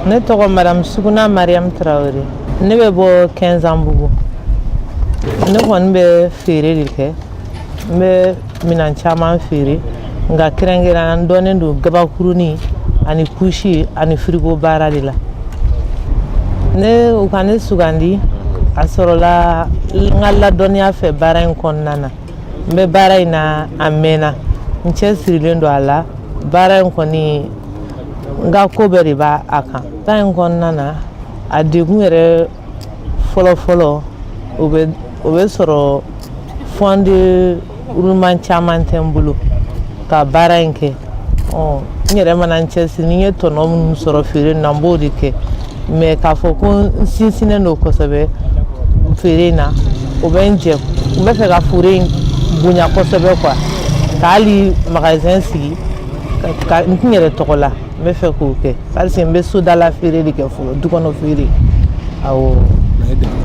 ne tɔgɔ madamu suguna mariyamu tarawele ne bɛ bɔ kɛnzanbugu ne kɔni bɛ feere de kɛ n bɛ minan caman feere nka kɛrɛnkɛrɛnya n dɔnnen don gabakurunin ani kusi ani firigo baara de la u ka ne sugandi a sɔrɔla n ka ladɔnniya fɛ baara in kɔnɔna na n bɛ baara in na a mɛnna n cɛsirilen don a la baara in kɔni n ka ko bɛɛ de b'a kan baara in kɔnɔna na a degun yɛrɛ fɔlɔfɔlɔ o bɛ o bɛ sɔrɔ fond de roulement caman tɛ n bolo ka baara in kɛ ɔ n yɛrɛ mana n cɛsiri ni n ye tɔnɔ minnu sɔrɔ feere in na n b'o de kɛ mais k'a fɔ ko n sinsinnen don kosɛbɛ feere in na o bɛ n jɛ n bɛ fɛ ka feere in bonya kosɛbɛ quoi ka hali magasin sigi ka n kun yɛrɛ tɔgɔ la n bɛ fɛ k'o kɛ parce que n bɛ sodala feere de kɛ fɔlɔ dukɔnɔ feere awɔ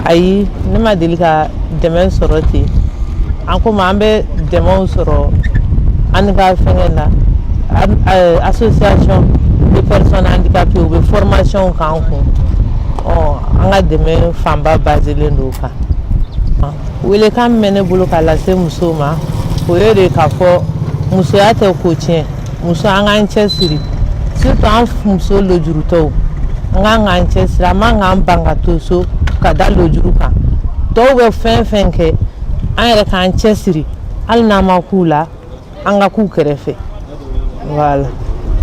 ayi ne ma deli ka dɛmɛ sɔrɔ ten an komi an bɛ dɛmɛw sɔrɔ an ka fɛngɛ la association de personnes handicapées u bɛ formation k'an kun ɔ an ka dɛmɛ fanba baselen don o kan Welekan min bɛ ne bolo k'a lase musow ma o ye de k'a fɔ musoya tɛ ko tiɲɛ muso an k'an cɛ siri surtout an muso lojurutɔw an ka kan k'an cɛ siri an man k'an ban ka to so ka da lojuru kan tɔw bɛ fɛn fɛn kɛ an yɛrɛ k'an cɛ siri hali n'an ma k'u la an ka k'u kɛrɛfɛ voilà